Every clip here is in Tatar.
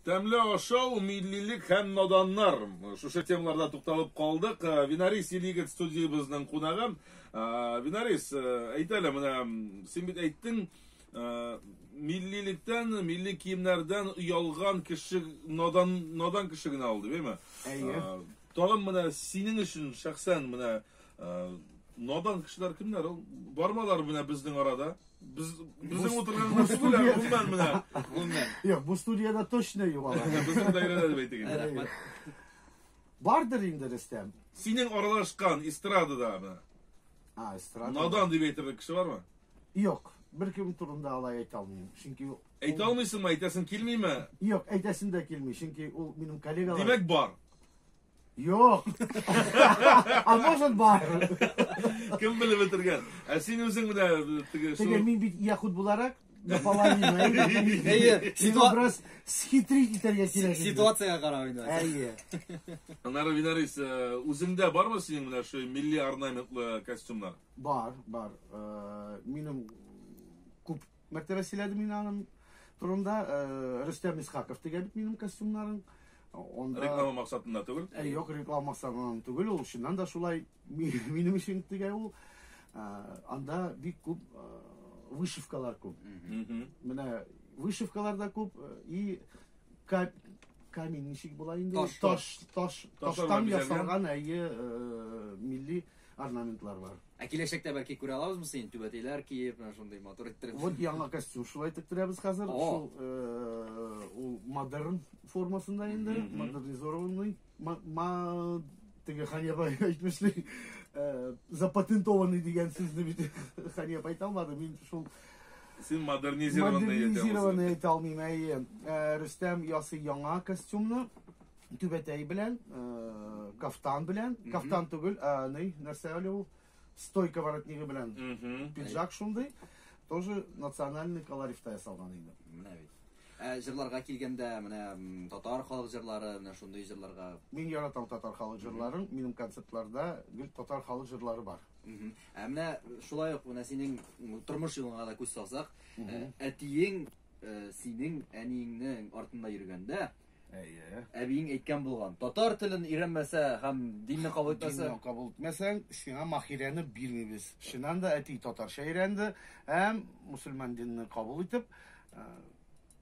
Тәмле ашау, миллилек һәм наданнар. Шушы темаларда тукталып калдык. Э, Винарис Илигет студиябезнең кунагы. Э, Винарис, э, әйт әле, менә син бит әйттең, миллилектән, милли киемнәрдән оялган кеше надан надан кеше генә алды, беме? Әйе. Тагын менә синең өчен шәхсән менә надан кешеләр кемнәр ул? Бармалар менә безнең арада. Без безнең утырганнар студия гомумән менә. Гомумән. Юк, бу студияда точно юк алар. Безнең даирәдә дип әйтик инде. Рәхмәт. Бардыр инде Рөстәм. Синең аралашкан эстрадада менә. А, эстрада. Надан дип әйтерлек кеше бармы? Юк, беркем турында алай әйтә алмыйм. Чөнки Әйтә алмыйсыңмы, әйтәсең килмиме? Юк, әйтәсем дә килми, чөнки ул минем коллегалар. Димәк бар. Юк. А может бар. Кем белеп бетергән? Ә син үзең менә теге Теге мин бит яхуд буларак наполовину. Әйе, сиңа бераз схитрить итәргә кирәк. Ситуациягә карап инде. Әйе. Аннары Винарис, э, үзеңдә бармы синең менә шуй милли орнаментлы костюмнар? Бар, бар. Э, минем күп Мәртәбә сөйләдем мин аның турында. Рөстәм Исхаков тегә бит минем костюмнарын. Онда... Реклама максатында түгел? Ә, юк, реклама максатыннан түгел, ул чыннан да шулай минем өчен тегә ул. Анда бик күп вышивкалар күп. Менә вышивкалар да күп и камень ничек була инде? Таш, таш, таш, таштан ясалган әйе милли орнаментлар бар. Ә киләчәктә бәлки күрә алабызмы син түбәтәйләр киеп, менә шундый матур иттереп. Вот яңа костюм шулай тектерәбез хәзер. Шул э, ул модерн формасында инде, модернизированный. Ма теге Ханеба әйтмешли, э, запатентованный дигән сүзне бит Ханеб әйтә алмады. Мин шул Син модернизированный әйтә алмыйм. Модернизированный әйтә алмыйм, әйе. Э, Рөстәм ясый яңа костюмны. Түбәтәй белән, э, кафтан белән, кафтан түгел, ә ни, нәрсә әле ул? Стойка воротнигы белән Мгм. пиджак шундый. Тоже национальный колоритта ясалган инде. Менә бит. Ә җырларга килгәндә, менә м, татар халык җырлары, менә шундый җырларга. Мин яратам татар халык җырларын. Минем концертларда гел татар халык җырлары бар. Мгм. Ә менә шулай ук менә синең м, тормыш юлыңа да күз салсак, э, әтиең э, синең әниеңнең артында йөргәндә, Әйе. Әбиең әйткән булган. Татар телен өйрәнмәсә һәм динне кабул итмәсә. Динне кабул итмәсәң, сиңа махирәне бирмибез. Чыннан да әти татарча өйрәнде һәм мусульман динне кабул итеп, э,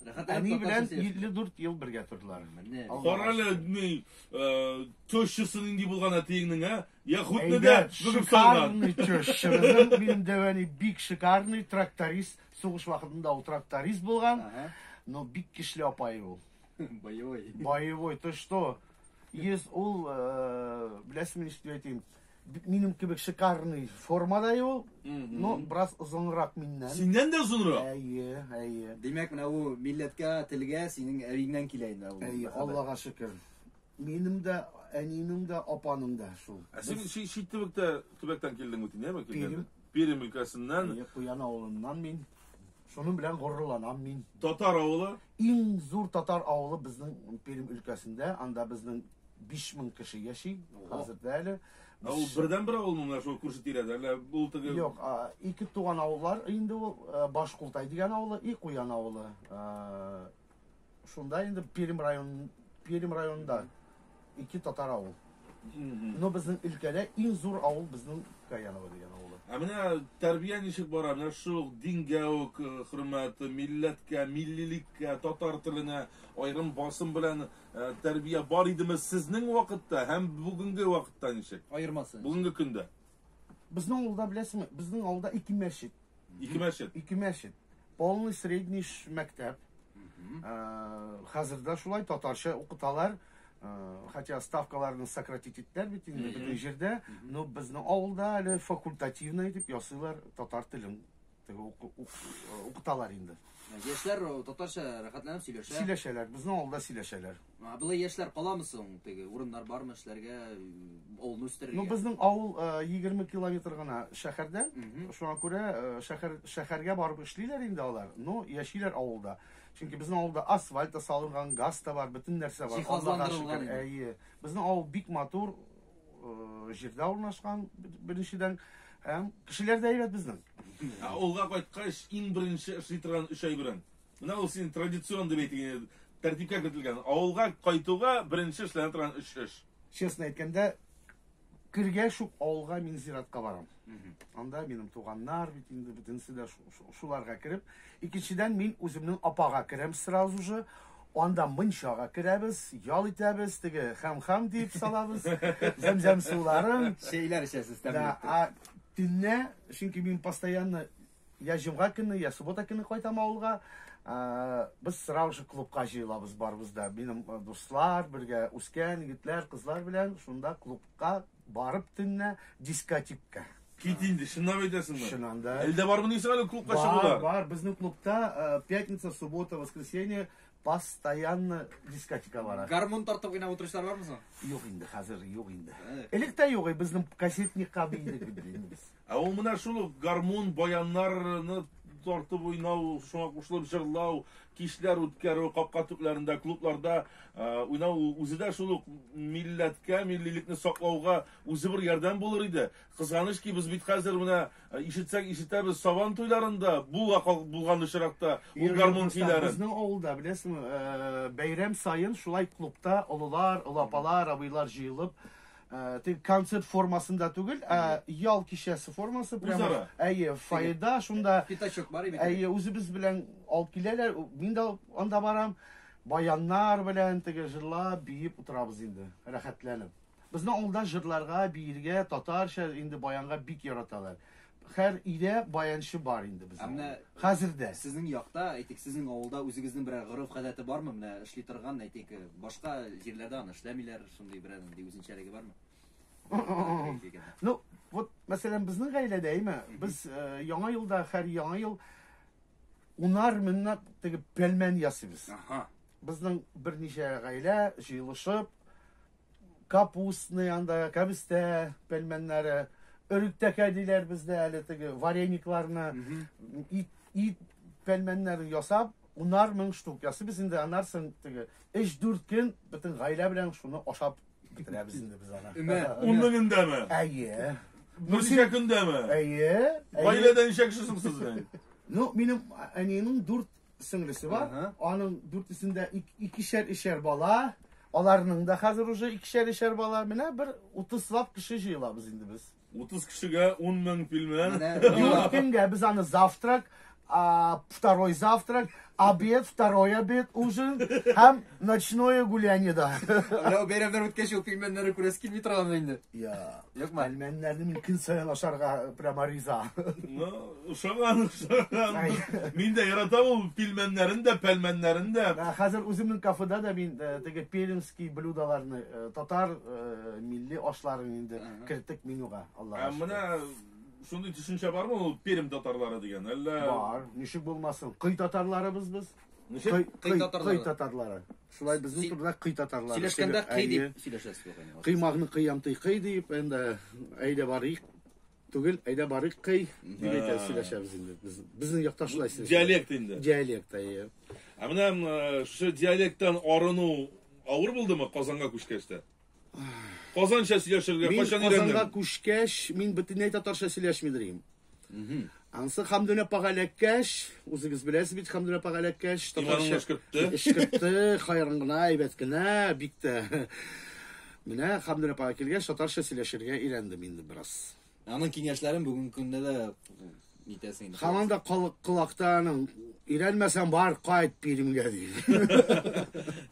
Әни белән 54 ел бергә тордылар. Кара әле, ни, э, тещасы нинди булган әтиеңнең, ә? Я хутны да Шикарный теща. Минем дәвәни бик шикарный тракторист. Сугыш вакытында ул тракторист булган, но бик кишле апай ул. Боевой. Боевой, то что? Ес ул, э, беләсең мин что әйтим, минем кебек шикарный формада ул, но брас озынрак миннән. Синнән дә озынрак? Әйе, әйе. Димәк, менә ул милләткә, телгә синең әбиңнән килә инде ул. Әйе, Аллага шөкер. Минем дә, әниемнең дә, апаның да шул. Ә син ши, ши төбәктә, төбәктән килдең бит, нәме килдең? Пермь өлкәсеннән. Әйе, Куян авылыннан мин. Шуның белән горурланам мин. Татар авылы. Иң зур татар авылы безнең Пермь өлкәсендә. Анда безнең 5000 кеше яши хәзер дә әле. Ә ул бердәнбер авыл монда шул күрше тирәдә, әллә ул теге Юк, ике туган авыллар инде ул. Баш Култай дигән авылы и Куян авылы. Шунда инде Пермь район Пермь районында ике татар авыл. Но безнең өлкәдә иң зур авыл безнең Каяново дигән авылы. Ә менә тәрбия ничек бара? Менә шул ук дингә үк э, хөрмәт, милләткә, миллилеккә, татар теленә аерым басым белән э, тәрбия бар идеме сезнең вакытта һәм бүгенге вакытта ничек? Аермасы. Бүгенге көндә. Безнең авылда беләсеңме? Безнең авылда ике мәчет. Ике мәчет. Ике мәчет. Полный средний мәктәп. Э, хәзер дә шулай татарча укыталар. Э, хотя ставкаларны сократить иттеләр бит инде бөтен җирдә, но безнең авылда әле факультативный дип ясыйлар татар телен Теге уку- ук- э, укыталар инде. Яшьләр о, татарча рәхәтләнеп сөйләшә. Сөйләшәләр, безнең авылда сөйләшәләр. А, Болай яшьләр каламы соң? Теге урыннар бармы эшләргә, авылны үстерергә? Ну, безнең авыл э, 20 километр гына шәһәрдән. Мгм. Шуңа күрә э, шәһәр шәһәргә барып эшлиләр инде алар. Ну, яшиләр авылда. Чөнки безнең авылда асфальт та салынган, газ та бар, бөтен нәрсә бар. Аллага Җиһазландырылган шөкер. инде. Әйе. Безнең авыл бик матур, җирдә урнашкан беренчедән һәм кешеләр дә әйбәт безнең. Ә олга кайткач иң беренче эшли торган өч әйберең. Менә ул синең традицион дип әйтелгән тәртипкә кертелгән. Авылга кайтуга беренче эшләнә торган өч эш. Честно әйткәндә, кергәч ук авылга мин зиратка барам. Анда минем туганнар бит инде бөтенесе дә шуларга кереп. Икенчедән мин үземнең апага керәм сразу же. Анда мунчага керәбез, ял итәбез, теге хәм-хәм дип салабыз. Зәмзәм суларын. Чәйләр эчәсез тәмле. Да, а төнне, чөнки мин постоянно я җомга көне, я суббота көне кайтам авылга. Без сразу же клубка җыелабыз барыбыз да. Минем дуслар, бергә үскән егетләр, кызлар белән шунда клубка Барып төнлә дискотикка. Кит инде, чынлап әйтәсеңме? Чыннан да. Әлдә бармы дисең әле клубка чыгулар? Бар, бар, безнең клубта э, пятница, суббота, воскресенье постоянно дискотека бара. Гармун тартып гына утырышлар бармы соң? Юк инде, хәзер юк инде. Элек тә юк, безнең кассетникка бейдек бит. Ә ул менә шул ук гармун, баяннарны тартып уйнау, шуңа кушылып җырлау, кичләр үткәрү, капка төпләрендә, клубларда уйнау үзе дә шул ук милләткә, миллилекне саклауга үзе бер ярдәм булыр иде. Кызганыч ки, без бит хәзер менә ишетсәк ишетәбез, Сабан туйларында була булган очракта ул гармун көйләрен. Безнең авылда, беләсеңме, бәйрәм саен шулай клубта олылар, олы апалар, абыйлар җыелып, Э, теге концерт формасында түгел, ә ял кичәсе формасы прямо. Үзара. Әйе, фойеда шунда. Пятачок бар бит. Әйе, үзебез белән алып киләләр. Мин дә анда барам. Баяннар белән теге җырлап, биеп утырабыз инде, рәхәтләнеп. Безнең авылда җырларга, биергә, татарча инде баянга бик яраталар. Хәр өйдә баянчы бар инде безнең. Ә менә хәзер дә. Сезнең якта, әйтик, сезнең авылда үзегезнең берәр горыф гадәте бармы? Менә эшли торган, әйтик, башка җирләрдә аны эшләмиләр, шундый берәр нинди үзенчәлеге бармы? Ну, вот, мәсәлән, безнең гаиләдә, әйме, без э, яңа елда, хәр яңа ел унар меңнәп теге пәлмән ясыйбыз. Ага. Безнең берничә гаилә җыелышып, капустный анда кәбестә пельменнәре өректәкә диләр бездә әле теге вареникларны ит, ит пельменнәрен ясап унар мең штук ясый без инде анарсын теге өч дүрт көн бөтен гаилә белән шуны ашап бетерәбез инде без аны өмә ун меңендәме әйе нурсия көндәме әйе гаиләдә ничә кеше соң сез ну минем әниемнең дүрт сеңлесе бар. Ага. Аның дүртесендә икешәр-ишәр бала. Аларның да хәзер уже икешәр-ишәр бала. Менә бер 30 лап кеше җыелабыз инде без. 30 кешегә 10 мең пилмән. Юк, кемгә без аны завтрак, а, второй завтрак, обед, второй обед, ужин һәм ночное гуляние да. Ана бәйрәмнәр үткәч ул пилмәннәрне күрәсе килми торган инде. Я. Юкмы? Пельменнәрне мин көн саен ашарга прямо риза. Ну, ошаган, ошаган. Мин дә яратам ул пельменнәрен дә, пельменнәрен дә. Ә, Хәзер үземнең кафеда да мин э, теге пермский блюдаларны, э, татар э, милли ашларын инде керттек менюга. Ә Аллага шөкер. менә шундый төшенчә бармы ул Пермь татарлары дигән? Әллә Бар, ничек булмасын. Кый татарларыбыз без. Ничек? Кый, Кый кый, татарлары. кый татарлары. Шулай безнең Си- турыда кый татарлар. Сөйләшкәндә Сөйлә- кый дип Әйе. сөйләшәсез бу кайнар. Кыймагны кыямтый кый дип, әндә әйдә барыйк. Түгел, әйдә барыйк кый дип Ага. әйтә сөйләшәбез инде. Без, безнең якта шулай сөйләшә. Диалект инде. Диалект, әйе. Ә менә м, э, шушы диалекттан арыну авыр булдымы Казанга күчкәч тә? Казанча сөйләшергә Мин кайчан Казанга өйрәндең? күчкәч, мин бөтенләй татарча сөйләшми дим. Ансы Хамдүн апага эләккәч, үзегез беләсез бит Хамдүн апага эләккәч, Иманын эшкертте. Эшкертте, хайран гына, әйбәт кенә, бик тә. Менә Хамдүн апага килгәч, татарча сөйләшергә өйрәндем инде бераз. Аның киңәшләрен бүгенге көндә дә нитәсең инде. Һаман да калык колакта аның өйрәнмәсәң бар кайт Пермьгә ди.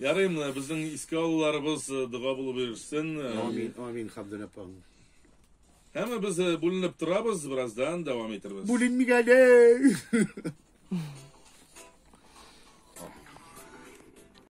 Ярый, менә безнең искә алуларыбыз э, дога булып йөрсен. Э, Амин, амин, Хабдул апам. Һәм без э, бүленеп торабыз, бераздан дәвам итәрбез. Бүленмик әле.